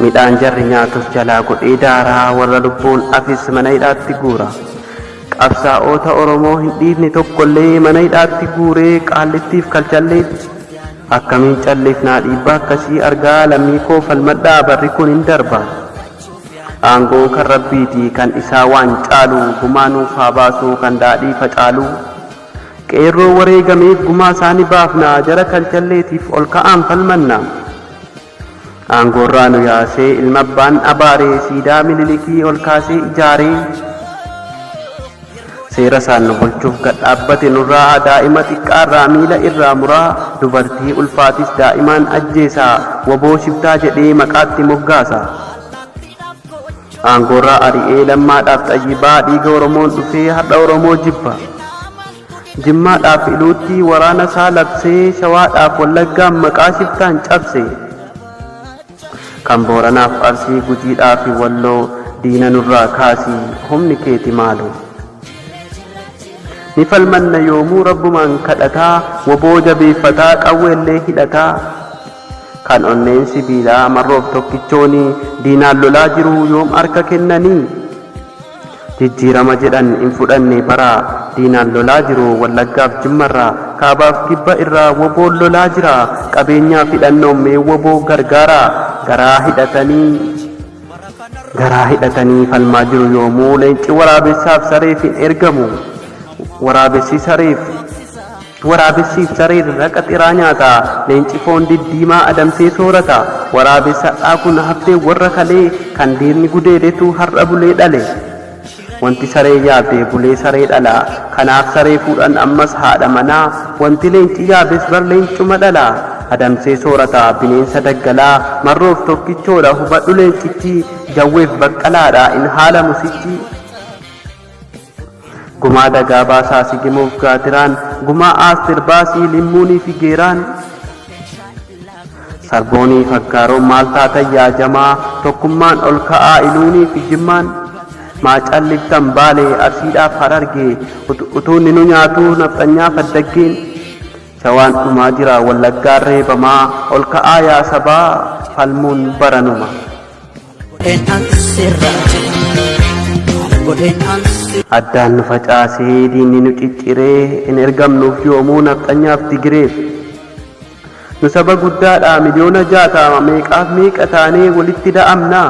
Midhaan jarri nyaatus jalaa godhee daaraa warra lubbuun hafes mana hidhaatti guura. Qabsaa'oota Oromoo hin dhiifne tokkollee mana hidhaatti guuree Qaallittiif Kalchalleetti. Akkamiin callifnaa dhiibbaa akkasii argaa lammii koo falmadhaa barri kun hin darba. Aangoon kan Rabbiiti kan isaa waan caalu gumaa nuuf haa baasuu kan daadhii facaaluu. Qeerroo wareegameef gumaa isaa ni baafna jara Kalchalleetiif ol ka'aan falmanna. Aangoorraa nu yaasee ilma abbaan abaaree siidaa mililikii ol kaasee ijaaree seera isaan nu bulchuuf gad dhaabbate nurraa daa'ima xiqqaarraa miila irraa muraa dubartii ulfaatis daa'imaan ajjeesaa waboo shiftaa jedhee maqaatti moggaasa aangoorraa ari'ee lammaadhaaf xayyibaa dhiiga oromoon dhufee har'a oromoo jibba. Jimmaadhaaf Iluutti waraana isaa labsee Shawaadhaaf Wallaggaan maqaa shiftaan cabse Kan Booranaaf Arsii Gujiidhaafi Walloo diina nurraa kaasi humni keeti maaloo Ni falmanna yoomuu Rabbumaan kadhataa Wbo jabeeffataa qawweellee hidhataa Kan onneen sibiilaa Marroof tokkichooni Diinaan lolaa jiruu yoom harka kennanii? Jijjiirama jedhan hin fudhanne baraa Diinaan lolaa jiru Wallaggaaf Jimmarraa Kaabaaf Kibba irraa Woboon lolaa jira Qabeenyaaf hidhannoon mee Wobo gargaaraa Garaa hidhatanii Garaa hidhatanii falmaa jiru yoomuu Leenci waraabessaaf sareef hin ergamu Waraabessi sareef Waraabessiif sareen raqa xiraa nyaata. Leenci foon diddiimaa adamsee soorata. Waraabessi har'aa kun haftee warra kalee kan diinni gudeedetu har'a bulee dhale. Wanti saree yaabde bulee saree dhala. Kanaaf saree fuudhan ammas haadha manaa. Wanti leenci yaabes bar leencuma dhala. Adamsee soorata. Bineensa daggalaa. Marroof tokkichoodha hubadhu leencichi. Jawweef baqqalaadha hin haalamu sichi. Gumaa dagaa baasaa sigimoof gaatiraan gumaa aastir baasii limmuunii fi geeraan sarboonii faggaaroo maal taatan yaa jamaa tokkummaan ol ka'aa iluunii fi jimmaan maa calliftan baalee arsiidhaaf harargee utuu ninu nyaatuu nafxanyaa faddaggeen shawaan dhumaa jira wallaggaan reebamaa ol ka'aa yaa sabaa falmuun baranuma. Addaan nu facaasee diinni nu cicciree hin ergamnuuf yoomuu nafxanyaaf Tigireef. Nu saba guddaadha miliyoona jaatama meeqaaf meeqa taanee walitti da'amna.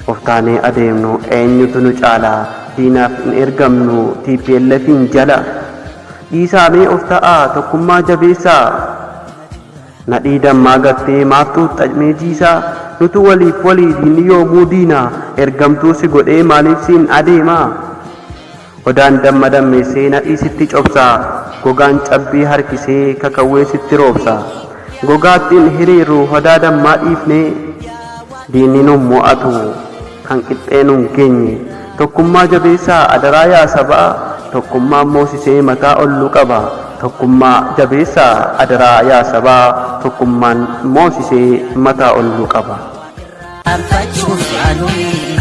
Of taanee adeemnu eenyutu nu caala diinaaf hin ergamnu TPLFiin jala. Dhiisaa mee of ta'aa tokkummaa jabeessaa. Nadhii dammaa gattee maaf xuuxxa mee jiisaa Nutu waliif walii diinni yoomuu diina Ergamtuu si godhee maaliif siin adeema Odaan damma dammeessee nadhii sitti cobsa Gogaan cabbii harkisee kakawwee sitti roobsa Gogaatti hin hiriirru hodaa dammaa dhiifnee Diinni nun mo'atu. kan qixxee nun geenye. Tokkummaa jabeessaa adaraa yaa sabaa Tokkummaan moosisee mataa ol nu qaba Tokkummaa jabeessaa adaraa yaa sabaa Tokkummaan moosisee mataa ol nu qaba. Anfachuuf yaaluun.